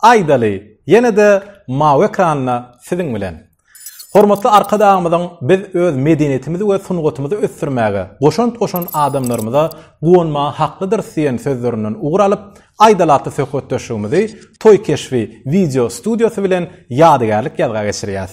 Aýdaly, ýene-de mawy ekranda siziň bilen. Hormatly Arkadagymyzyň biz öz medeniýetimizi we sungatymyzy ösdürmäge goşant goşan adamlarymyza guwanmaga haklydyrys diýen sözlerinden ugur alyp, Aýdaly atly söhbetdeşligimizi Toý keşbi wideo studiýasy bilen ýadygärlik ýazga geçirýäs.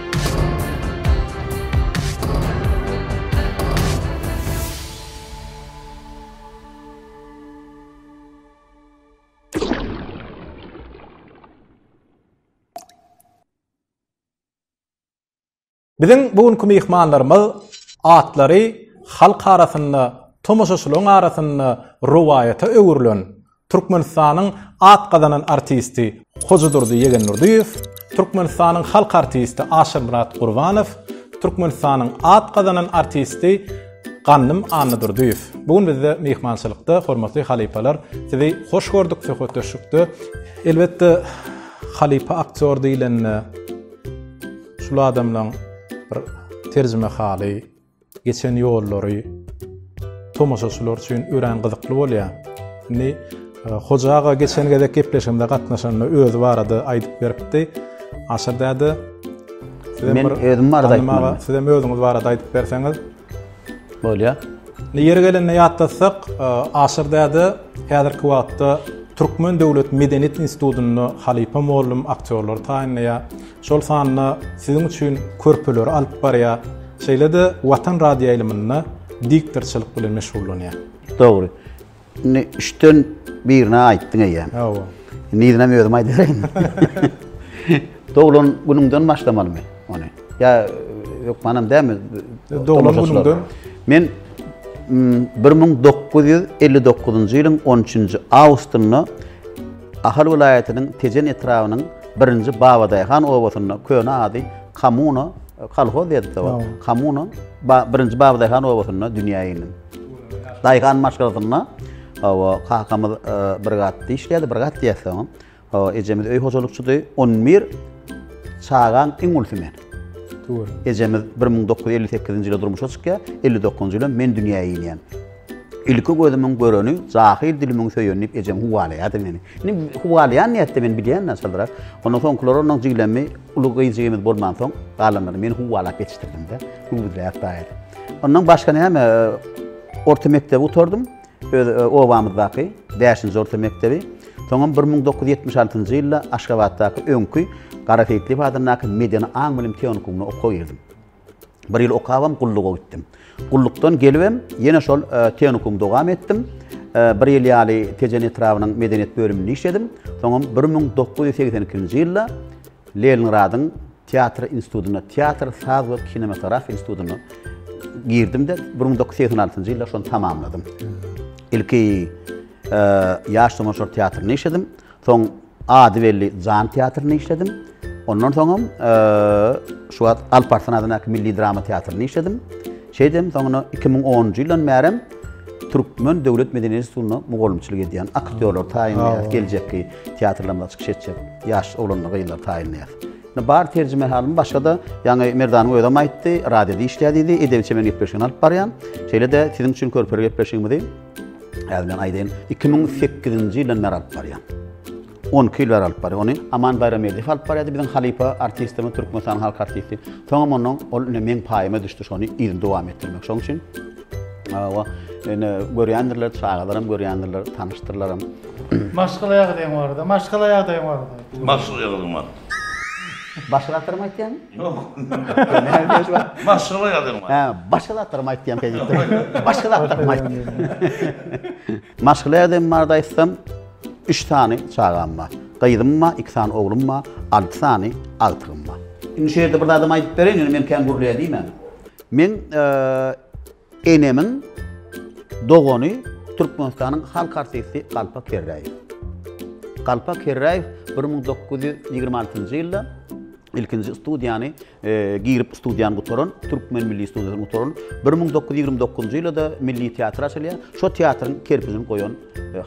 Biziň bu günki myhmanlarymyz atlary halk arasynda, tomaşaçylaryň arasynda rowaýata öwrülen Türkmenistanyň at gazanan artisti Hojadurdy Ýegendurdyýew, Türkmenistanyň halk artisti Aşyrmyrat Gurbanow, Türkmenistanyň at gazanan artisti Gandym Annadurdyýew bu gün bizde myhmançylykda. Hormatly halypalar, sizi hoş gördük söhbetdeşlikde. Elbetde, halypa aktýor diýlende, şul adamlaň bir terjimehaly, Geçen ýollary tomaşaçylar üçin örän gyzykly bolýar. Indi e, Hoja aga geçen gezek gepleşigimize gatnaşanda özi barada aýdyp beripdi. Aşyr däde sizem Men özüm barada aýtmaly. Sizem özüňiz barada aýdyp berseňiz bolýar. Indi ýeri gelende ýatlatsak, e, Aşyr däde häzirki wagtda Türkmen döwlet medeniýet institutynda halypa mugallym aktýorlar taýynlaýar. şol sanda siziň üçin körpeleri alyp barýar, şeýle-de Watan radioýaýlymynda diktorçylyk bilen meşgullanýar. Dogry. Indi üçden birini aýtdyň eýýäm. Hawa. Indi yzyna özüm aýdaýyn. Doglan günüňden başlamalymy ony? Ýa hökmanam dälmi? Doglan günüňden. Men 1959-njy ýylyň 13-nji awgustynda Ahal welaýatynyň Tejen etrabynyň birinji Babadaýhan obasynda, köne ady Kamuno, kolhoz diýerdik-de ol, Kamuno, birinji Babadaýhan obasynda dünýä indim. Daýhan maşgalasynda hawa, kakamyz e, brigadda işleýärdi, brigad diýerdi oňa. Hawa, ejemiz öý hojalykçydy. 11 çagaň iň ulysy men. Ejemiz 1958-nji ýylda durmuşa çykýar, 59-njy ýylda men dünýä inýän. Ilki gözümiň göreni jahil dilimiň söýeni diýip ejem howalaýardy meni. Indi howalaýan nätdi men bilýän naçaldyrak. Ondan soňkular onuň jiglemmi uly gyzjygymyz bolmansoň galanlary men howalap ýetişdirdim-de. Güwüzläp daýady. Ondan başga näme orta mekdebi gutardym. Öz obamyzdaky bäşinji orta mekdebi. Soňam bir müň dokuz ýüz ýetmiş altynjy ýylda Aşgabatdaky öňki Garaseýitliýew adyndaky Medeni aň bilim tehnikumy okap girdim. Bir ýyl okabam gulluga gitdim. Gullukdan gelibem ýene şol e, tehnikumy dowam etdim. E, bir ýyl ýaly Tejen etrabynyň medeniýet bölüminde işledim. Soňam 1982-nji ýylda Leningradyň teatr institutyna, teatr, saz we kinematografiýa institutyna girdim-de 1986-njy ýylda şony tamamladym. Ilki e, ýaş tomaşalar teatrynda işledim. Soň Ady belli Jan teatrynda işledim. Ondan soňam şu wagt Alparslan adyndaky milli drama teatrynda işledim. Şeýdem soňuna 2010-njy ýyldan bärim Türkmen döwlet medeniýet institutynda mugallymçylyk edýän aktýorlar taýynlaýar, geljekki teatrlarymyza çykyş etjek ýaş oglanlar, gyzlar taýynlaýar. Indi bar terjime halym başga-da, ýaňy Merdanyň özem aýtdy, radioda işleýär diýdi, edebi çemen gepleşigini alyp barýan. Şeýle-de siziň üçin körpeli gepleşigimizi Häzir bilen aýdaýyn, iki müň sekizinji ýyldan bäri alyp barýan. On iki ýyl bäri alyp barýan. Ony Aman Baýrameldiýew alyp barýardy, biziň halypa artistimiz, Türkmenistanyň halk artisti. Soňam ondan ol indi meň paýyma düşdi şony yzyny dowam etdirmek. Şoň üçin Hawa, indi görýändirler, çagalaram görýändirler, tanyşdyrlaram. Maşgala ýagdaýyň barada, maşgala ýagdaýyň barada. Maşgala ýagdaýym bar. Başga zatlar mı aytýan? Yok. Başga zatlar mı? Ha, başga zatlar mı aytýan peki? Başga zatlar mı aytýan? Maşgala ýagdaýym barada aýtsam, 3 sany çagam bar. Gyzym bar, 2 sany oglum bar, 6 sany agtygym bar. Indi şu ýerde bir zadam aýdyp bereýin, ýöne men kän gürleýän diýmän. Men Enemiň dogany Türkmenistanyň halk artisti Galpa Kerräýew. Galpa Kerräýew bir müň dokuz ýüz ýigrimi altynjy ýylda ilkinji studiýany girip studiýany gutaran, Türkmen milli studiýasyny gutaran, bir müň dokuz ýüz ýigrimi dokuzynjy ýylda milli teatr açylýar, şo teatryň kerpijini goýan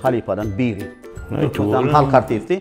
halypadan biri. Türkmenistanyň halk artisti.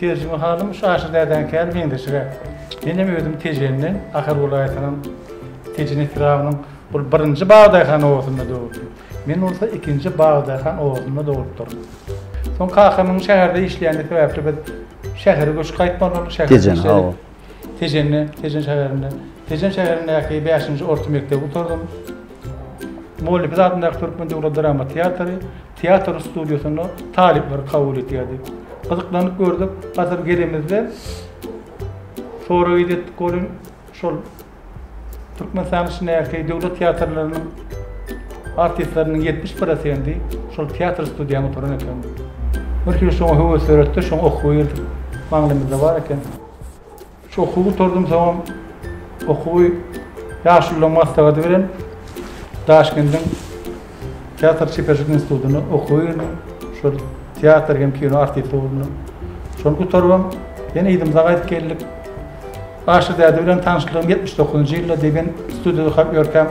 Terjime halym Şaşy dädäňkäl meňzeşiräk. Menem özüm Tejenden, Ahal welaýatynyň Tejen etrabynyň Ol birinji Bagdaýhan obasynda doguldy. Men bolsa ikinji Bagdaýhan obasynda doglupdyryn. Soň kakamyň şäherde işleýändigi sebäpli biz şähere göçüp gaýtmaly boldyk, şäherde işledik. Tejende, Tejen şäherinde, Tejen şäherindäki bäşinji orta mekdebi gutardym. Mugallymyz adyndaky Türkmen döwlet drama teatry teatr studiýasynda talyplary kabul etýärdi. Gyzyklanyp gördük, gatyr gelemizde sorag edetdik welin, şol Türkmenistanyň içindäki döwlet teatrlarynyň artistleriniň ýetmiş prosendi şol teatr studiýaňda oturan eken. Bir hili şoňa höwes döretdi, şoňa okuwa girdik. Maňlaýymyzda bar eken. Şu okuwy gutardym, soňam okuwy ýaşulularyň maslahady bilen Daşkendiň Teatr çeperçilik institutyna okuwa girdim. Şol teatr hem kino artisti boldum. Şony gutarypam, ýene ýurdumyza gaýdyp geldik. Aşyr däde bilen tanyşlygym ýetmiş dokuzynjy ýylda degen studiýada okap ýörkäm.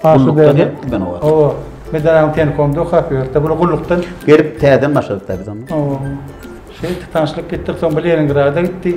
Gullukda gelipdik men o wagt. Hawa, Medaranyň tenkomda okap ýörde, bular gullukdan. Gelip täzeden başladyk-da biz onda. Hawa. Şeýtdi, tanyşlyk etdik, soň bir Leningrada gitdi.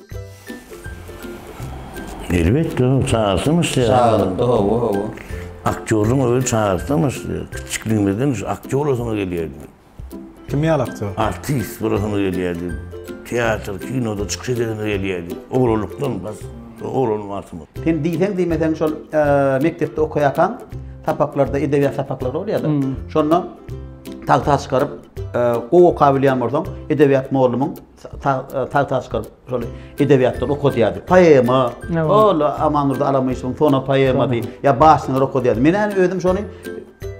Elbetde, çagasymyş diýýär. Çagalykda hawa, hawa. Aktýorlugyň özi çagalykdanmyş diýýär. Kiçijikligimizden şu aktýor bolasymyz gelýärdi. Kim ýaly aktýor? Artist bolasymyz gelýärdi. Teatr, kinoda çykyş edesimiz gelýärdi. Oglanlykdan bas, oglan wagtymyz. Sen diýseň diýmeseň şol mekdepde okaýarkaň, sapaklarda, edebiýat sapaklary bolýar-da. Şonda tagta çykaryp, gowy okabilýän bolsaň, edebiýat mollumyň. tagta çykaryp şol edebiýatdan okadýardy. Poema, ol Amandurdy Alamyşewiň Sona poemasy, ýa başyny okadýardy. Men hem özüm şony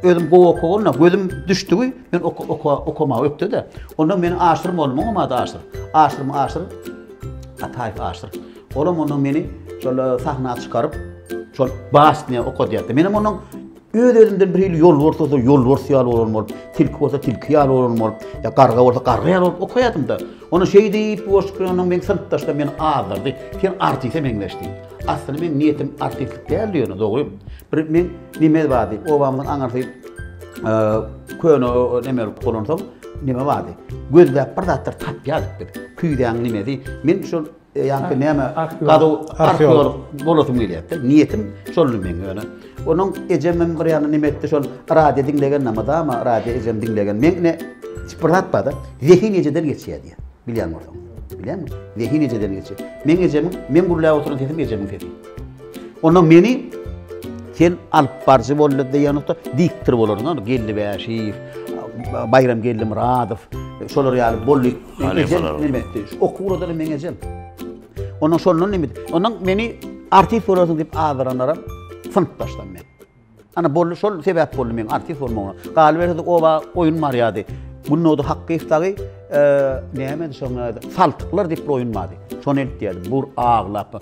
özüm gowy okaganda gözüm düşdügi, men okamagy ökde-de. Onda meni Aşyr mollamyň ady Aşyr. Aşyr, Aşyr, Ataýew Aşyr. Olam onda meni şol sahna çykaryp, şol başyny okadýardy. Men hem onuň Öz-özümden birhili ýolbars bolsa ýolbars ýaly bolan bolup, tilki bolsa tilki ýaly bolan bolup, ýa garga bolsa garga ýaly bolup okaýardym-da. Onda şeý diýip, bu goşgy bilen onuň meň synpdaşlarym meni azdyrdy, Sen artise meňzeş diýip. Aslynda meň niýetim artistlik däldi ýöne, dogry. Bir meň neme bardy, obamyzyň aňyrsy köne neme bolup bolansoň, neme bardy. Gözläp bir zatlar tapýardyk biz. Küýzäň nemesi. Men şol Ýa-da näme? Gazuw arheolog bolasym gelýärdi. Niýetim şoldy meň ýöne. Onuň ejem hem bir ýandan neme etdi, şol radio diňlegen, namazama radio ejem diňlegen. Meň ine hiç bir zat bar-da, zehin ejeden geçýär diýýär. Bilýän bolsaň. Bilýäňmi? Zehin ejeden geçýär. Meň ejemiň, meň gürläp oturan sesim ejemiň sesi. Onda meni sen alyp barjy boldy diýenokda, diktor bolardyň, Geldi Bäşiýew, Baýram Geldimyradow, şolar ýaly boldy. Meň ejem näme etdi? Şu okuw uradyny meň ejem. Ondan şondan näme? Ondan meni artist bolarsyň diýip azaranlar hem synpdaşdan men. Ana boldy şol sebäp boldy meň artist bolmagyma. Galyberse oba oýun barýardy. Günnowda hakky istagy e, näme şoňa saltyklar diýip bir oýun bardy. Şony edip diýerdi. Bur aglap.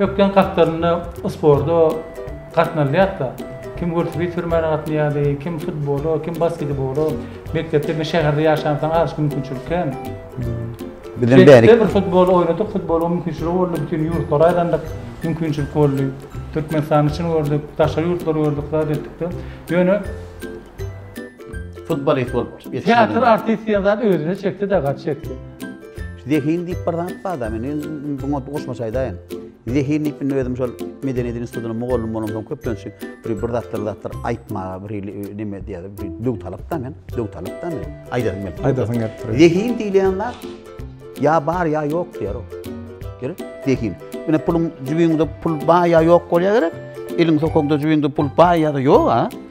Ökden gatlarynda sporda gatnalýarka, kim welosiped sürmäne gatnaýardy, kim futbola, kim basketbola. Mekdepde bir şäherde ýaşansoň az mümkinçilik kän. Bizem bärik. Bir futbol oýnadyk, futbola mümkinçilik boldy, bütin ýurtlara aýlandyk, mümkinçilik boldy. Türkmenistany çyn gördük, daşary ýurtlary gördük, zat etdik-de. Ýöne Futbolist bolup ýetişmedim. Teatr artist diýen zat özüne çekdi-de gaty çekdi. Zehin diýip bir zat bar-da, men indi buňa goşmaça aýdaýyn. Zehin diýip indi özüm şol Medeniýet institutyna mugallym bolamsoň köplenç bir bir zatlar zatlar aýtmaga bir ili neme diýýärler, bir döwtalap-da men, döwtalap-da men. Aýdasym gelip. Aýdasyň gelip dur. Zehin diýilýän zat ýa bar ýa ýok diýýär o. Gerek? Zehin. Ine puluň jübiňde pul bar ýa ýok bolýar gerek. Eliň sokaňda jübiňde pul bar ýa-da ýok-a.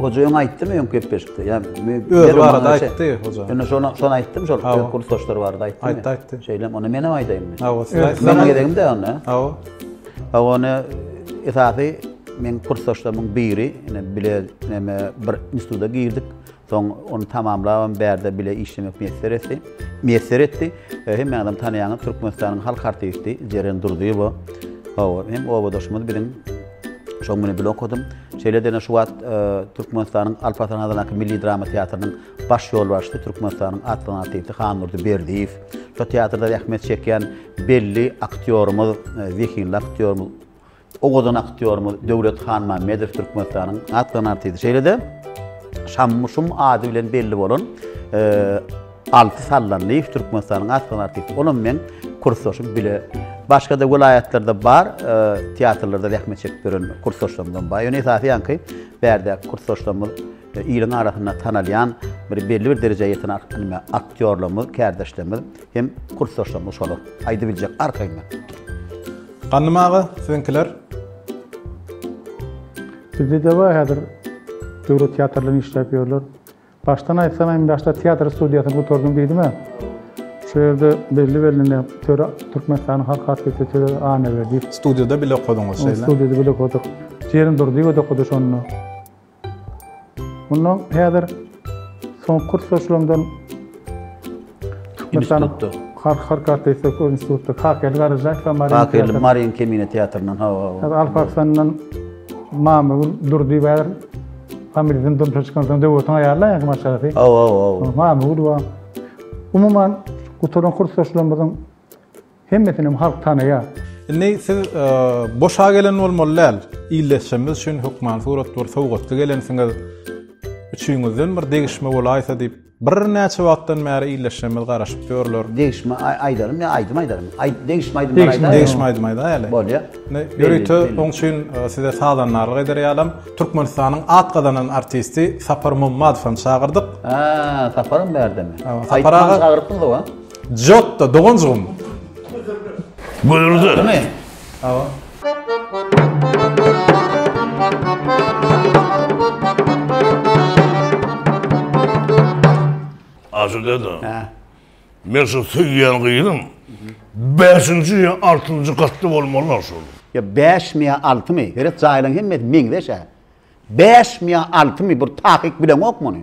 Hojaýyň aýtdymy öňki gepleşikde? Ýa men öz barada aýtdy hoja. Ýöne şonu şonu aýtdym şol kursdaşlar barada aýtdym. Aýtdy aýtdy. Şeýle ony menem aýdaýyn. Hawa, siz aýtdyň. Meniň gezegimde onda. Hawa. Hawa ony esasy men kursdaşlarymyň biri, ine bile neme bir instituta girdik. Soň ony tamamlabam bärde bile işlemek miýesser etdi. Miýesser etdi. Hemme adam tanaýan Türkmenistanyň halk artisti Jeren Durdyýewa. Hawa, hem obadaşymyz biziň. Şoň bilen bile okadym. Şeýle-de ine şu wagt Türkmenistanyň Alp Arslan adyndaky milli drama teatrynyň baş ýolbaşçysy, Türkmenistanyň atly artisti Handurdy Berdiýew. Şo teatrda zähmet çekýän belli aktýorymyz, zehinli aktýorymyz Owadan aktýorymyz Döwlet Hanmämmedow Türkmenistanyň atlan artisti. Şeýle-de Şammy Şum ady bilen belli bolan Alty Sallanlyýew Türkmenistanyň atlan artisti. Olam meň kursdaşym bile. Başga-da welaýatlarda bar teatrlarda zähmet çekip ýören kursdaşlarymyzam bar. Ýöne esasy ýaňky bärdäki kursdaşlarymyz iliň arasynda tanalýan bir belli bir derejä ýeten aktýorlarymyz, kärdeşlerimiz. Hem kursdaşlarymyz şolar. Aýdybiljek arkaýyndan. Gandym aga siziňkiler. Bizede bar häzir döwlet teatrlaryny işläp ýörler. Başdan aýtsam hem başda teatr studiýasyny gutardym diýdimä. Şu ýerde belli belli töre Türkmenistanyň halk artisti töre Annaberdiýew. Studiýada bile okadyňyz şeýle. Studiýada bile okadyk. Jeren Durdyýewa-da okady şonda. Mundan häzir soňky kurs goşulandan Türkmenistanyň Halk halk artisti institutda Kakerli Garajaýew we Maryň Kakerli Maryň Kemine teatryndan ha ha. Al Pakistandan Mamagül Durdy we Hamidden durmuşa çykan soň döwretiň aýalyna ýa maşgalasy. Ha ha ha. Mamagül we umuman gutaran kurs goşulanymyzyň Hemmesinem halk tanaýar. Indi siz boşa gelen bolmaly däl. Ildeşimiz üçin hökman surat bir sowgatly gelensiňiz. Üçüňizden bir degişme bolaýsa diýip, birnäçe wagtdan bäri ildeşimiz garaşyp ýörler. Degişme aýdarym ýa aýdym aýdarym? Aýt, degişme aýdym aýdarym. Degişme aýdym aýdaýaly. Bolýar. Indi ýörite oň üçin size sazandarlyk eder ýalam, Türkmenistanyň at gazanan artisti Sapar Mommadowy çagyrdyk. Haa, Saparam bärdemi? Aýtman çagyrypdyňyz-ow-a? Jotto, doganjygym. Gürrüldür. Demi? Hawa. Aşyr dede. Hä. Men şu söýýän gyzym. Bäşinji ýa altynjy gatda bolmaly şol. Ýa bäşmi ýa altymy? Heret jaýlaň hemmesi meňzeş-ä. Bäşmi ýa altymy bir takyk bileňok muny.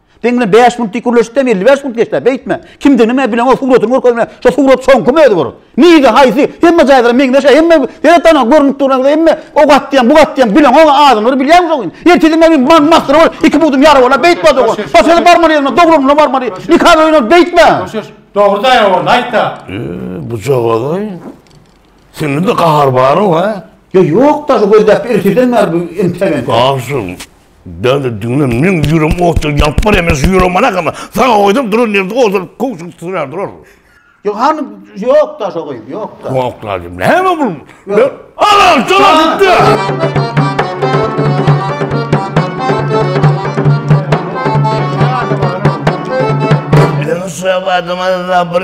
Sen bilen 5 minut dik gürleşip de 55 minut geçdi. Beýtme. Kimdigini men bilen o suratyny görkezme. Şu surat soňky mözi bor. Nige haýsy? Hemme jaýlara meňzeş, hemme her tana görnüp duran, hemme o gat diýen, bu gat diýen bilen o adamlary bilýän şo gün. Ertesi men man mahsyr bol, iki budum ýara bola beýtme dogan. Başga barmaly ýerine, dogrulygyna barmaly. Nika öýüne beýtme. Dogry daýa bol, aýtda. Bu jogadaý. Sende de gahar bar-ow, ha? Ýa ýok-da, şu gözläp erteden bäri bu entegent. Agşam Däli diňle, meň ýüregim otdan ýanyp barýar, men şu ýüregim alakama, saňa oýdap duran ýerde ozal köwşük sürer durarmyş. Ýok, hany, ýok-da şo gyz, ýok-da. Ýok-la diýip, näme bu? Alan, çala gitdi! Şöbadymyzda bir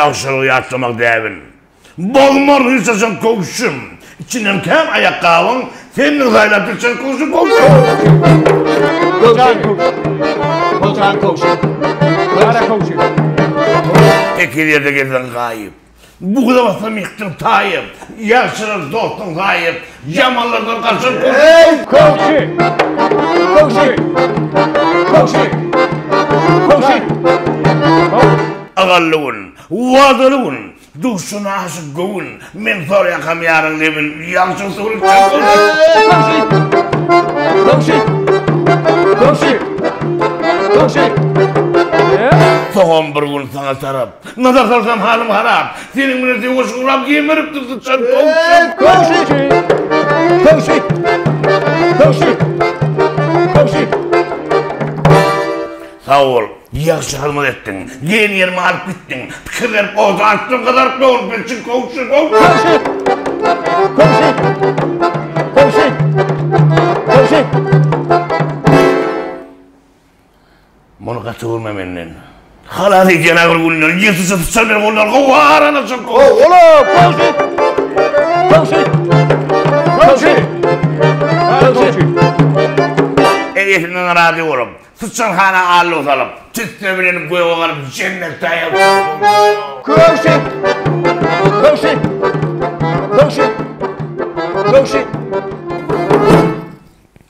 Ýagşylygy ýatlamak däbin. Bolmar ryssaşyň köwşüm. Içinden kän aýakgabyň, Sendir saýlap düşen köwşüm, köwşüm. Tekiz ýerde gezseň gaýyp. Bugula basam ýykdyň taýy, Ýagşylar dostuň zaýy, Ýamanlardan gaçyp dur. Eý, köwşi! Köwşi! Köwşi! Köwşi! Köwşi! Ygally gün, wadaly gün, Duşuna aşyk göwün, Men sor ýakam ýaryň lebin, Ýagşyň suwuny içjek gün. Eý, köwşi! Köwşi! Köwşi! Köwşi! Eý! Soňam bir gün saňa tarap, Nazar salsam halym harap. Seniň bilen söweşiň ulag gemiripdir syçan towşan. Kowşy! Kowşy! Kowşy! Kowşy! Sag bol. Ýagşy hyzmat etdiň. Diýen ýerime alyp gitdiň. Pikir berip oda atdyň gyzaryp dogrup bilçin kowşy kowşy! Kowşy! Kowşy! Kowşy! Kowşy! Muny gaty görme menden. Halas et ýene bir günler. Ýesu şu syçan meni goldan gowy arana çyk. Gow ola gowşy. Gowşy. Gowşy. Gowşy. Eýesinden razy bolup, syçan hana allo salyp, tüsse bilen göge galyp jennet taýýar bolsun. Gowşy. Gowşy. Gowşy. Gowşy.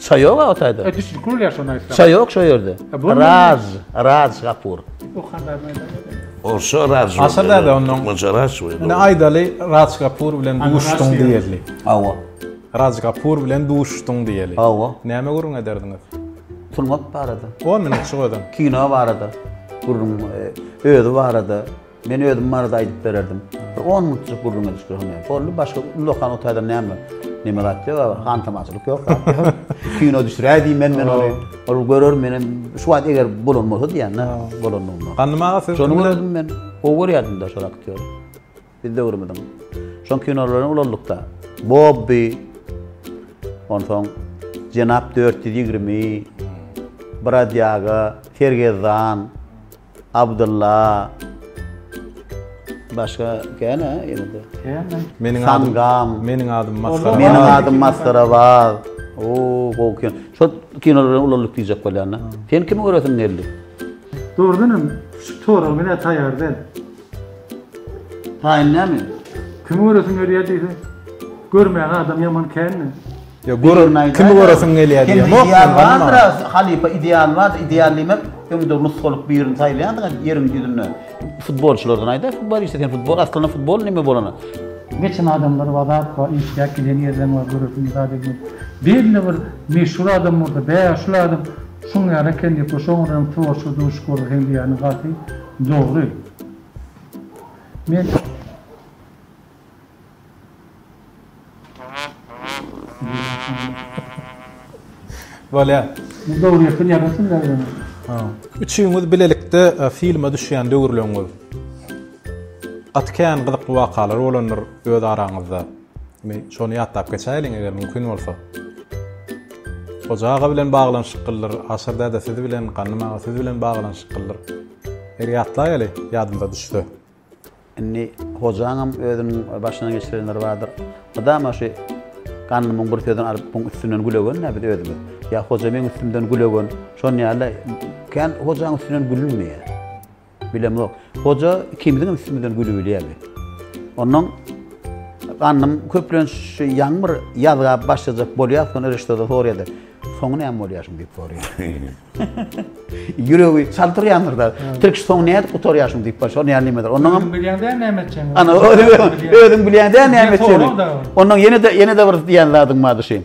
Çay yok o tayda. E düşün kul ya şuna islam. Çay yok şu yerde. Raz, Raz Kapur. O kadar mı? Olsa Raz. Asa da da onun. Maca Raz. Ne aydalı Raz Kapur bilen duştun diyeli. Ava. Raz Kapur bilen duştun diyeli. Ava. Neme gurun ederdiniz? Turmak barada. O minut şu adam. Kino barada. Gurun e, özü barada. Men özüm barada aýdyp bererdim. Bir on minutjyk gürrüň edişip dursaňam boldy. Başga ullakan otadam näme? Näme zat ýok, aga, hantamaçylyk ýok. Kino düşüräý diýmen men ony. Ol görer menem şu wagt eger bolan bolsa diýýän-de, bolandygyny. Gandym aga siz. Şony gördüm men. Gowy görýärdim-de şol aktýory. Biz döwrümiziň şol kinolaryny ulaldyk-da. Bobbi. Onsoň Jenap 420, Brodýaga, Sergezdan. Abdylla. Başga kän-ä ýene-de. Kän-ä. Meniň adym. Sangam. Meniň adym Masgara. Meniň adym Masgara bag. Oo, gowy kino. Şo kinolar bilen ulaldyk diýjek bolýan-da. Sen kimi göresiň geldi? Dogrudanam şu sorag menä taýar däl. Taýyn näme? Kimi göresiň gelýär diýse, görmäge adam ýaman kän-de. Ýok, görerim, kimi göresiň gelýär diýemok men, Gulnara. Halypa ideal bar-da, ideal diýmek, öňde nusgalyk birini saýlaýarsyň-a ýeriň ýüzünde. Futbolçylardan aýda, futbolista sen, futbol, aslynda futbol näme bolany? Geçen adamlar wazapka işläp gelen ýerden bar göresiň zat edýän. Belli bir meşhur adam bolsa, bäh, şul adam şuň ýaly eken diýip, şoňa görem tworçy duş görseň diýýäniň gaty. Dogry. Men Bolýar. Bu dogry ýatyr ýa gysym ýazylmaly. Ha. Üçüňiz bilelikde filme düşýän döwürleriňiz gaty kän gyzykly wakalar bolandyr öz araňyzda. Indi şony ýatlap geçäýeliň, eger mümkin bolsa. Hoja aga bilen baglanyşyklydyr, Aşyr däde siz bilen, Ganym aga siz bilen baglanyşyklydyr. Bir ýatlaýaly, ýadymyza düşse. Indi Hojaňam özüniň başyndan geçirenleri bardyr. Mydama şu Ganymyň bir sözüni alyp muň üstünden gülegenä biz özümiz. Ýa Hoja meň üstümden gülegen, şon ýaly kän Hojaň üstünden gülünmeýär. Bilemok. Hoja ikimiziňem üstümizden gülübilýärdi. Onnoň gandym köplenç şu ýaňmyr ýazga başlajak bolýar, soň Rişdoda sorýardy. Soňy näme bolýar şuny diýip sorýar. Ýüregi çaltyrýandyr da. Tirkiş soňy nädip gutarýar şuny diýip başlar, näme diýmedir. Onnoň hem bilýän däl näme etjegini. Ana özüň bilýän däl näme etjegini. Onnoň ýene-de ýene-de bir diýen zadyň bardy şeým.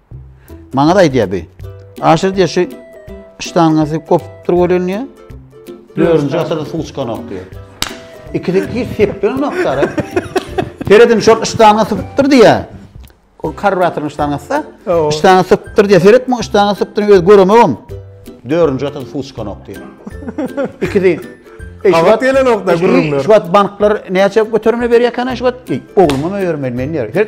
Maňa da aýdýar bi. Aşyr diýär şu ştangasy kopupdyr welin diýär. Dördünji asyrda suw çykanok diýär. İkisi hiç seplenok dara. Seredin şol ştanga sypypdyr diýär. O karbatyryň ştangasy. Ştanga sypypdyr diýär. Seret muň ştanga sypypdyr öz göremegim. Dördünji asyrda suw çykanok diýär. İkisi Gabat gelenok da gürrüňler. Şu wagt banklar näçe göterimli berýär kana şu wagt? Ogluma öýermeli men diýär.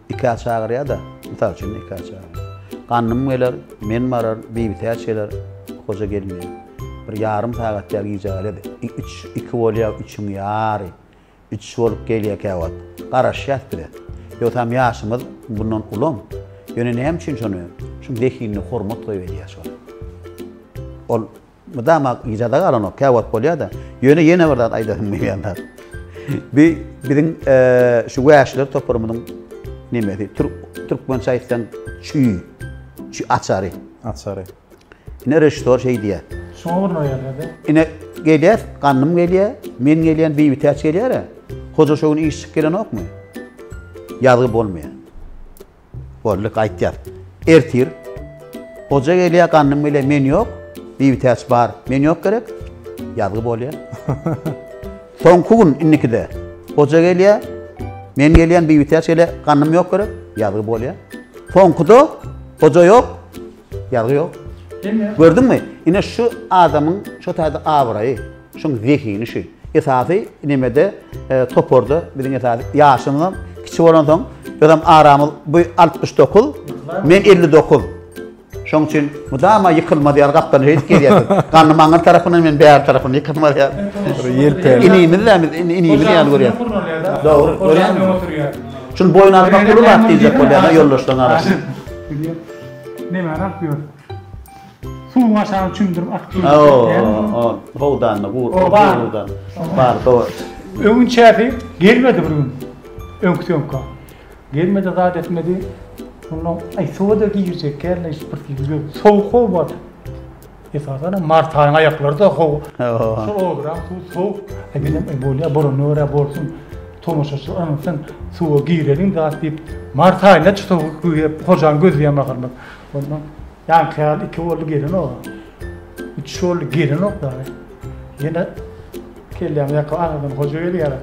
Nikah çagyrýa-da, mysal üçin, nikah çagyrýa. Gandym geler, men barar, Bibitäç geler, Hoja gelin geler. Bir ýarym sagat ýa gijä gaýlady. Üç, iki bolýa, üçüň ýary. Üç bolup gelýä käwagt. Garaşýas biz-ä. Ýogsam ýaşymyz bundan ulam. Ýöne näme üçin şony, şuň zehinine hormat goýberýä şony. Ol Mydama yzada galanok, käwagt bolýar-da. Ýöne ýene bir zat aýdasym gelýärdi. Bu biziň şu wäşiler toparymyzyň nemesi, türkmençe aýtsaň, çüý, çüý açary. Açary. Ine režissýor şeý diýýär. Şoňa bir noýerledi. Ine gelýär, ganym gelýär, men gelýän, Beýbitäç gelýär-ä. Hoja şu gün iş çykyp gelenokmy? Ýazgy bolmaýar. Boldy, gaýt ýat. Ertir Hoja gelýär, Gandym gelýär, men ýok. Bibitäç bar, men ýok gerek. Ýazgy bolýar. Soňky gün indikide Hoja gelýär, men gelýän, Bibitäç gelýär, Gandym ýok gerek. Ýazgy bolýar. Soňkuda Hoja ýok, ýazgy ýok. Gördüňmi? Ine şu adamyň şu taýda abraýy. Şuň zehini şu. Esasy nemede toparda biziň esasy ýaşymyzam kiçi bolansoň özem aramyz bu 69 men 59. Şoň üçin mudama ýykylmaz ýaly gapdan höýt gelýär. Ganyň maňa tarapyndan men bäri tarapyndan ýykylmaz ýaly. Ýelpäli. Inimiz de biz inimiz ýaly görýär. Dogry, görýär. Şul boýun almak uly wagt diýjek bolýar ýoldaşlaryň arasynda. Näme arak ýör? Suwuň aşagyny çümdürip akyp gidýär. Hawa, howdanda gurt, howdan. Bar, dogry. Öňinçäsi gelmedi bir gün. Öňki söňka. Gelmedi, zat etmedi. Onda aý suwa-da girjekkäm, aý bir girdi. Sowuk how bar. Esasanam mart aýyň aýaklary-da how. Şol oduran suw sowuk. Aý menem aý bolýar, bolana görä bolsun. Tomaşaçylar ynansaň suwa gireliň zat diýip, mart aýynda-çy sowuk diýip, hojaň gözleýän mahalymyz. Onda Ýaňky gal iki boldy gelenok. Üç boldy gelenok dagy. Ýene kellämiz ýaka aradan hoja gelýär.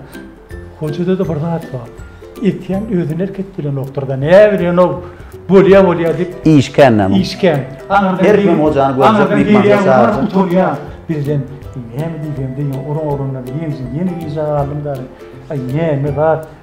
Hojada-da bir zat bar. Etýän özüni erk etdirenokdyr-da. Näbilenok, bolýa-bolýa diýip. Iş kän näme? Iş kän. Her kim hojany görjek myhmança çagyrjak. Utanýar. Birden näme diýjegimi bilmän, oran-orandan ýenjin, ýene gijä galdym dagy. Aý näme zat?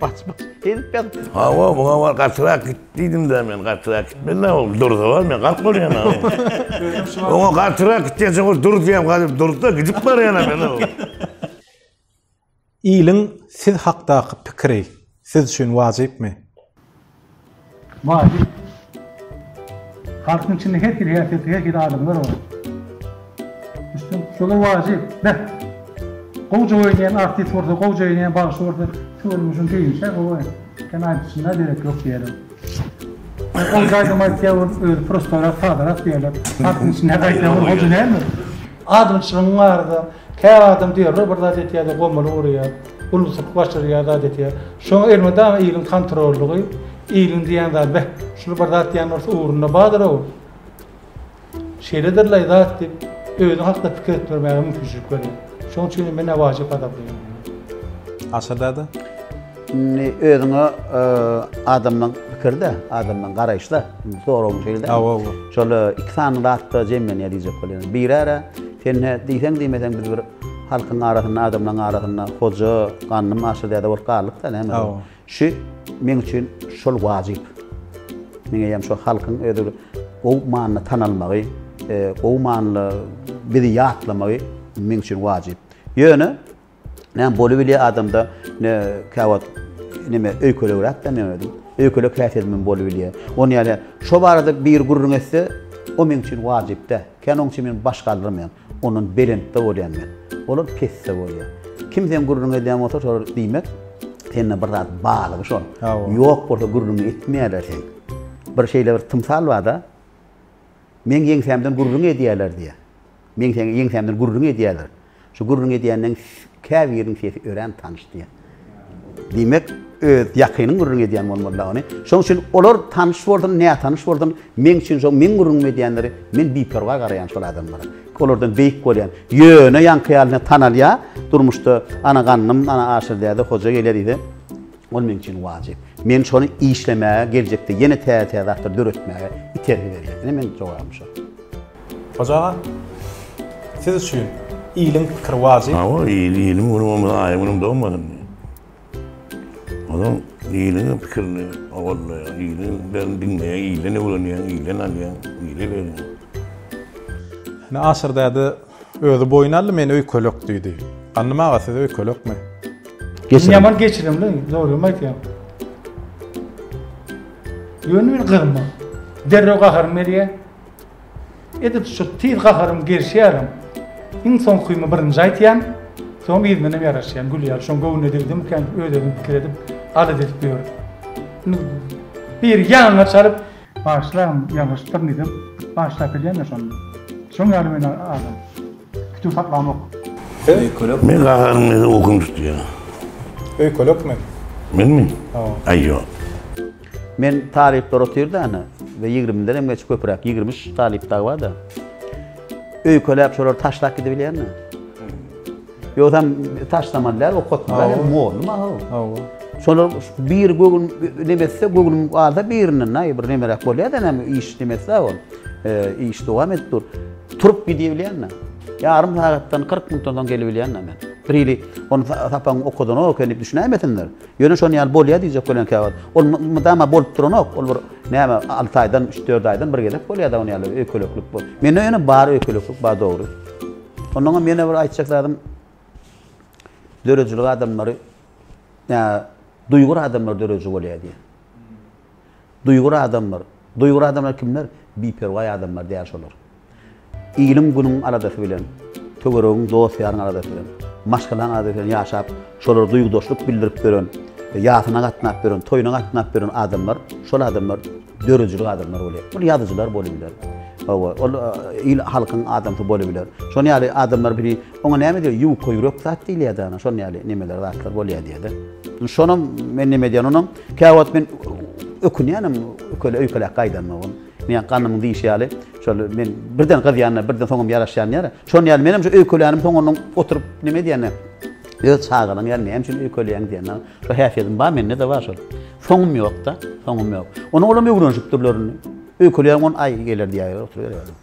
Baç baç edip ýaz. Hawa, muňa bar gatyrak git diýdim-de men, gatyrak gitmeli-de ol durza bar, men galyp bolýan-a. Oňa gatyrak git diýençe ol dur diýýän, galyp durdy-da gidip barýan-a men o. Iliň siz hakdaky pikiri siz üçin wajypmy? Wajyp. Halkyň içinde her hili häsiýetli, her hili adamlar bar. Düşdüň? Şolar wajyp. Beh. Gowja oýnaýan artist bolsa, gowja oýnaýan bagşy bolsa, şu görnüşiň düýbüni-şä gowaý. Sen aýdyşyna derek ýok diýerler. Gowja aýdym aýtýar bolup, özi prostorak, sadarak diýerler. Halkyň içinde gaýtam ol gowja dälmi? Adamçylygyň barada, kä adam diýerler, bir zat etýär-de, gomury urýar. Uluslyk başarýar zat etýär. Şoň elmydama iliň kontrollygy, iliň diýýän zady beh, şuly bir zat diýýän bolsa ugrunda bardyr-ow. Şeýledirlaý zat diýip, özi hakda pikir edip görmäge mümkinçilik berýär. Şoň üçin hem men-ä wajyp gazaplaýan diýýär. Aşyr däde? Indi özüňe adamdan pikir-de, adamdan garaýyş-da. Indi soragyň şeýle-de. Hawa, hawa. Şol iki sany zat-da jemlenýär diýjek bolýan. Biri-ä sen-ä diýseň-diýmeseň biz bir Halkyň arasynda, adamlaryň arasynda hoja, gandym aşa däde bolup galdyk-da, näme? Hawa. Şu meň üçin şol wajyp. Meň eýýäm şo halkyň özi gowy manyda tanalmagy, gowy manyda bizi ýatlamagy meň üçin wajyp. Ýöne näme bolubilýär adamda ne käwagt näme öýkelegräkden men özüm. Öýkelek häsiýetimden bolubilýär. Ony ýa-da şo barada biri gürrüň etse, o meň üçin wajyp-da. Kän oň üçin men baş galdyrmaýan. Ondan belentde bolýan men. Olar pesde bolýar. Kim seň gürrüňi edýän bolsa şolar diýmek sende bir zat barlygy şol. Ýok bolsa gürrüňi etmeýärler seň. Bir şeýle bir tymsal barda meň ýeňsämden gürrüň edýärler diýýär. Meň ýeňsämden gürrüň edýärler. Şu gürrüň edýäniň käbiriniň sesi örän tanyş diýýär. Diýmek, öz ýakynyň gürrüň edýän bolmaly-la ony. Şonuň üçin olar tanyş bolsun, nätanyş bolsun, meň üçin şo meň gürrüňimi edýänleri, men biperwaý garaýan şol adamlara. Olardan beýik bolýan. Ýöne ýaňky ýaly ine tanalýa, durmuşda ana ganym, ana aşyrdäde hoja gelýä diýse, ol meň üçin wajyp. Men şony işlemäge, geljekde ýene täze-täze zatlar döretmäge itergi berýär. Ine meň jogabym şo. Hoja aga, siz üçin iliň pikiri wajyp. Hawa, il, iliň güni bolmasa, aýyň günem dogmasyn. Ozal iliň pikirini owallaýar, iliň pikirini diňleýär, ilden öwrenýär, ilden alýar, ile berýär. Ine, Aşyr däde özi boýun aldy, men öýkelek diýdi. Gandym aga, siz öýkelekmi? Geçirim. Men ýaman geçirimli, dogrymy aýtýan. Ýöne men gyzma. Derrew gaharym gelýär. Edil şu tiz gaharym gelşýärem. Iň soňkymy birinji aýtýan, soň yzyndan hem ýaraşýan, gülýän. Şoň göwnüne degdimikä diýip öz-özümi pikir edip, alys edip ýörün. Indi biri ýaňa çalyp. Bagşlam ýalňyşypdyr diýsem, bagşlap bilýän-dä şonda. Şoň ýaly men adam. Kütük saklamok. Siz? Men gahanyň meni okun tutýar. Öýkelekmi? Menmi? Hawa. Aý ýok. Men talyplar otyrdany we ýigrimiden hem geçip köpüräk, ýigrimi üç talyp dagy barda, öýkeläp şolary taşlap gidibilýärmi? Ýogsam taşlaman däl, okatmaly hem mugallym ahaw. Hawa. Şolar biri gögün neme etse, gögünim galsa birinden näý bir nemeräk bolýar-da näme iş neme etse ol. Iş dowam edip dur. Turup gidibilýärmi? Ýarym sagatdan kyrk minutdan soň gelibilýärmi men? Bir hili ony sapagyň okadanok eken diýip düşünäýmesinler. Ýöne şonuň ýaly bolýar diýjek bolýan käwagt. Ol mydama bolup duranok. Ol bir näme alty aýdan, üç-dört aýdan bir gezek bolýar-da ony ýaly öýkeleklik bu. Mende ýöne bar öýkeleklik, bar dogry. Ondan hem ýene bir aýtjak zadym, döredijilik adamlary, ýa duýgur adamlar dörediji bolýar diýýär. Duýgur adamlar. Duýgur adamlar kimler? Biperwaý adamlar däl şolar. Iliň günüň aladasy bilen, töweregiň dost-ýaryň aladasy bilen, maşgalaň aladasy bilen ýaşap, şolara duýgudaşlyk bildirip ýören, ýasyna gatnap ýören, toýuna gatnap ýören adamlar, şol adamlar döredijilik adamlar bolýar. Ol ýazyjylar bolup biler. Hawa, ol il halkyň adamsy bolup biler. Şonuň ýaly adamlar biri oňa näme diýer? Ýuka ýürek zat diýilýär-de ana, şonuň ýaly nemeler zatlar bolýar diýer-de. Şonam men näme edýän onam? Käwagt men ökünýänem köle öýkelek gaýdanmagym. Meň ganymyň diýşi ýaly, şol men birden gyzýan-da, birden soňam ýaraşýan ýaly. Şon ýaly menem şu öýkelänim soňundan oturyp neme edýän-de, öz çagalygyň ýaly näme üçin öýkeleýäň diýen. Şo häsiýetim bar, mende-de bar şol. Soňum ýok-da, soňum ýok. Onuň olam öwrenişipdirler indi. Öýkelýäň on aý geler diýýärler, oturyberýärler.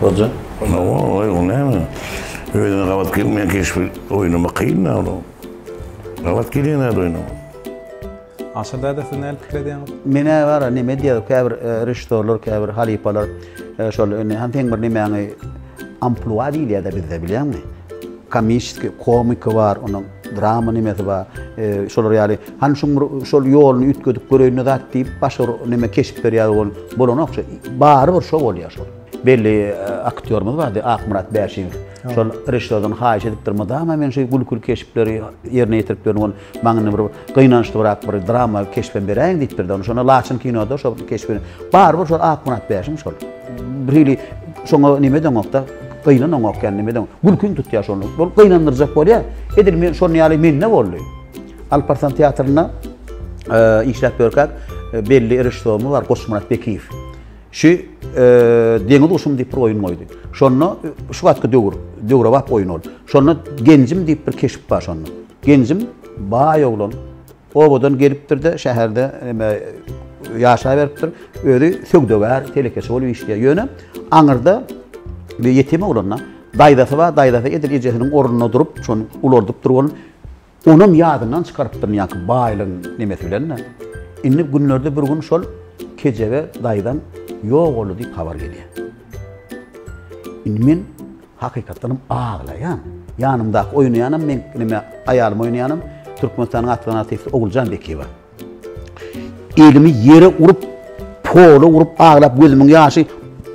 Hoca. Ona oy o näme? Özüne gabat gelmeýän keşbi oýnamak kyn da onuň. Gabat gelýän zat oýnamak. Aşyr däde siz näme pikir edýäňiz? Men-ä bar-a neme diýýär, käbir režissýorlar, käbir halypalar şol indi hany seň bir nemäňi amplua diýilýär-de bizde bilýäňmi? Komissiýa, komiki bar onuň. drama nimesi bar, e, şolar ýaly. Han şuň bir şol ýoluny üýtgedip göreýin zat diýip, başga bir näme keşp berýär ol. Bolanok şu. Bary bir şo bolýar şol. Belli e, aktýorymyz bardy, Akmyrat Bäşiýew. Şol režissýordan haýyş edipdir, mydama men şu gülküli keşpleri ýerine ýetirip ýörün, ol maňa bir gynançlybrak bir drama keşbem beräýiň diýipdir-de, şonda Laçyn kinoda şo keşbi. Bary bir şol Akmyrat Bäşim şol. Bir hili şoňa nime edeňokda, gynanaňok ýaly nime edeň. Gülkiň tutýar şony. Bol gynandyrjak bolýar. Edil men şonuň ýaly mende boldy. Alparslan teatrynda e, işläp ýörkäk e, belli režissýorymyz bar Goçmyrat Bekiýew. Şu e, deňiz guşum diýip bir oýun goýdy. Şonda e, şu wagtky döwür, döwrebap oýun ol. Şonda Genjim diýip bir keşp bar şonda. Genjim baý oglan, Obadan gelipdir-de, şäherde neme ýaşaberipdir. Özi söwdagär, telekeçi bolup işleýär. Ýöne aňyrda bir ýetim oglan-da, daýzasy bar, daýzasy edil ejesiniň ornunda durup, şony ulaldypdyr bolun. Onam ýadyndan çykarypdyr dünýäki baýlygyň nemesi bilen-de. Indi günlerde bir gün şol kejebe daýzam ýok boldy diýip habar gelýär. Indi men Hakykatdanam aglaýan. Ýanymdaky oýnaýanam meň neme aýalym oýnaýanam Türkmenistanyň atly artisti Oguljan Bekiýewa. Elimi ýere urup, pola urup aglap gözümiň ýaşy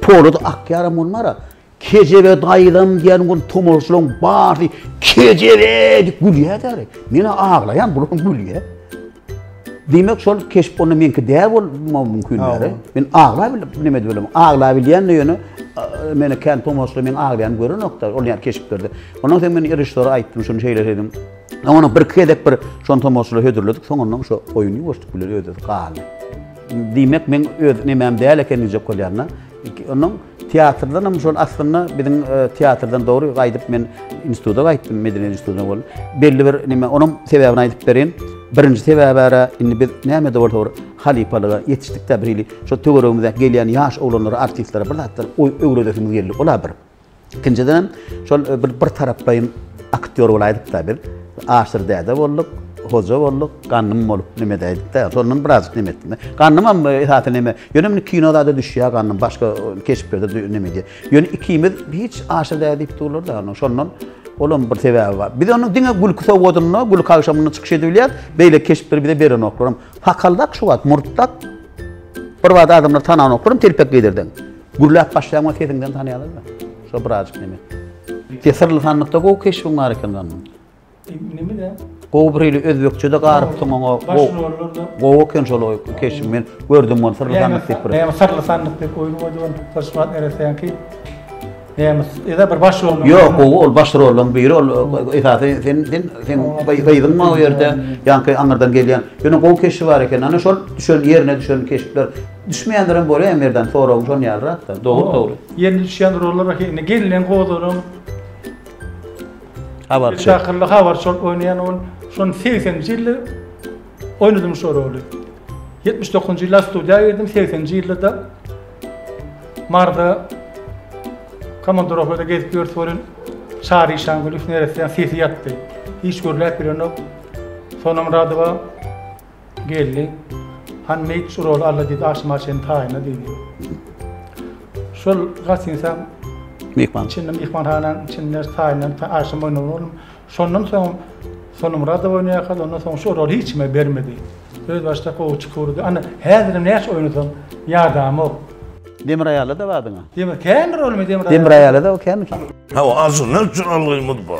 polada akýaram bolmara. Kejebe daýzam diýen gün tomaşalaryň barsy kejebe diýip gülýärler. Men aglaýan bular gülýär. Diýmek, şol keşp onda meňki däl bolmagy mümkin däl-e? Men agla bilip näme edip bilerin? Agla bilýän-de ýöne, meni kän tomaşaçylar meň aglaýanymy görenok-da, ol ýaly keşplerde. Ondan soň men režissýora aýtdym, şuny şeýle edelim. Oňa bir-iki gezek bir şony tomaşaçylara hödürledik, soňundan şo oýun ýuwaşdyk bilen öz-özüne galdy. Diýmek, meň öz nemäm däl eken diýjek bolýan-da. Ondan Teatrdan hem şol aslynda biziň teatrdan dogry gaýdyp men instituta gaýtdym, medeniýet institutyna bol. Belli bir nime, onuň sebäbini aýdyp berin. Birinji sebäbi ara indi biz näme-de bolsa bir halypalyga ýetişdik-de bir hili şo töweregimizdäki gelýän ýaş oglanlara, artistlere bir zatlar öwredesimiz geldi. Ol-a bir. Ikinjiden hem şol bir bir taraplaýyn aktýor bolaýdyk-da biz. Aşyr däde bolduk, hoja bolduk, gannym bolup neme edäýdik-de. Şondan birazjyk neme etdim. Gannym hem esasy neme, Ýöne indi kino zada düşýär gannym, başga keşplerde dü neme diýýär. Ýöne ikimiz hiç aşa däl diýip durlar-da, ony şondan olam bir sebäbi bar. Biz onuň diňe gülki sowgadynda, gülki agşamynda çykyş edip bilýäris, beýleki keşpleri bize berenoklar hem. Sakaldak şu wagt, murtdak. Bir bada adamlar tananoklar hem telpek geýdirseň. Gürläp başlaýaň we sesiňden tanaýarlar-da. Şo birazjyk neme. Sesirli sandykda gowy keşbiň bar eken gannym. Gowy bir hili özbekçede garypsyň oňa. Baş rollarda. Gowy eken şol oý keşiň men gördüm muny syrly sandyk diýip bir. Näme syrly sandyk diýip oýun goýdy ol Pyşmat nereseňki. Näme ýa bir baş rol. Ýok gowy ol baş rollaryň biri ol esasy sen sen sen gyzyň o ýerde ýaňky aňyrdan gelýän. Ýöne gowy keşi bar eken ana şol düşen ýerine düşen keşpler. Düşmeýänlerem bolýar Merdan soragyň şon ýalyrakda. Dogry dogry. Ýerine düşýän rollar indi gelneň gozalaň. Habarçy. Spektaklda habarçy bolup oýnaýan ol. Şonda segseninji ýylda oýnadym şo roly. Ýetmiş dokuzynjy ýylda studiýa girdim, segseninji ýylda-da Marda komandirowkada gezip ýörüs welin, Çary Işangulyýew neressäň sesi ýatdy. Hiç gürläp bilenok. Sonam Radowa. Geldi. Hany meýit çuraly Alla diýdi, aşyma çenli taýynla diýdi. Şol gatynsam Myhman. içinde myhmanhananyň içinde taýynlandy, ta aşa moýnuna boldum. Şondan soňam Sonumyradow oýnaýarka, ondan soň şu roly hiç kime bermedi. Öz başdak gowy çykurydy. Ana, häzirem näçe oýnasam ýadamok. Demir aýalyda bardyň-a? Demir, kändir ol men Demir aýaly. Demir aýalyda o känmiki? Hawa, ajyndan üçin algymyz bar.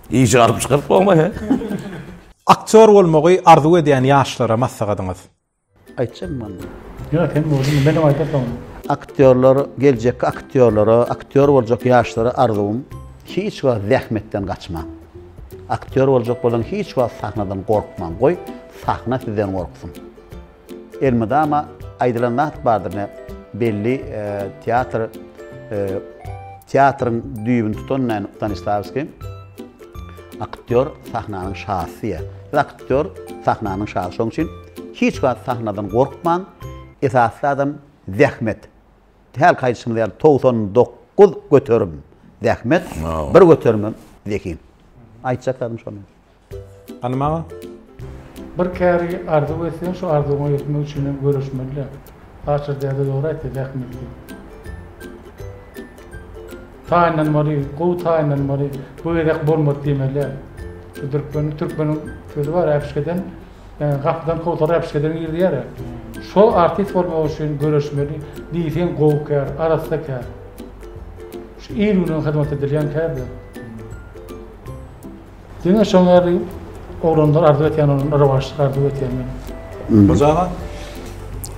Işi aryp çykaryp goýma he. Aktýor bolmagy arzuw edýän ýaşlara maslahatyňyz? Aýtjak boldy. Ýok sen bolduň menem aýta soň. Aktýorlar geljekki aktýorlara aktýor boljak ýaşlara arzuwym hiç wagt zähmetden gaçmaň. Aktýor boljak bolsaň hiç wagt sahnadan gorkmaň goý sahna sizden gorksun. Elmydama aýdylan zat bardyr ne belli teatr teatryň düýbüni tutan näme Stanislawskiý aktýor sahnanyň şasy diýýär. Biz aktýor sahnanyň şasy şoň üçin hiç wagt sahnadan gorkmaň esasy zadam zähmet. Hälki aýdyşymyz ýaly togsan dokuz göterim zähmet bir göterim zehin. Aýtjak zadym şo men. Hany maňa. Bir käri arzuw etseň şu arzuwyňa ýetmek üçin hem göreşmelidä. Saçyr däde dogry aýtdy zähmetli. Taýynlanmaly, gowy taýynlanmaly, bu gezek bolmady diýmelidä. Şu türkmeniň türkmeniň sözi bar äpişgeden ýa gapydan kowsara äpişgeden gir diýärä. Şol artist bolmak üçin göreşmeli, diýseň gowy kär, arassa kär. Şu il-günüň hyzmat edilýän kärde. Diňe şoň ýaly oglanlar arzuw etýän oglanlar rowaçlyk arzuw etýän men. Hojaga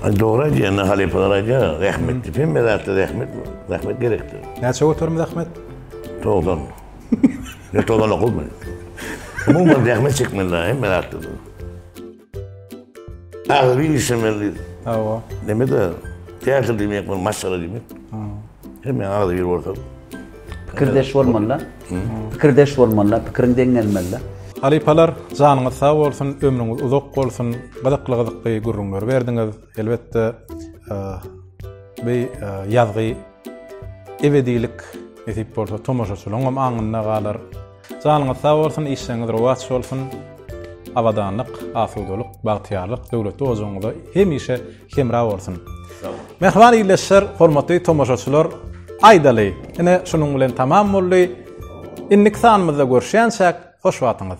Dogry aýdýar, indi halypalar aýdýar, zähmetdir. Hemme zatda zähmet, zähmet gerekdir. Näçe göterim zähmet? Togsan. Ýa togsan okuzmy? Umuman zähmet çekmeli hemme zatda. Agzybir işlemeli. Hawa. Neme de teatr diýmek bol maşgala diýmek. Hem men agzy bir bolsam. Pikirdeş bolmaly. Pikirdeş bolmaly, pikiriň deň gelmeli. Halypalar, janyňyz sag bolsun, ömrüňiz uzak bolsun. Gyzykly gyzykly gürrüňler berdiňiz. Elbetde, bu ýazgy ebedilik nesip bolsa tomaşaçylaryň hem aňynda galar. Janyňyz sag bolsun, işleriňiz rowaç bolsun, abadanlyk, asudalyk, bagtyýarlyk döwletli ojagyňyza hemişe hemra bolsun. Mähriban ildeşler, hormatly tomaşaçylar, aýdaly, ine şunuň bilen tamam boldy. Indiki sanymyzda görüşýänçäk, hoş wagtyňyz.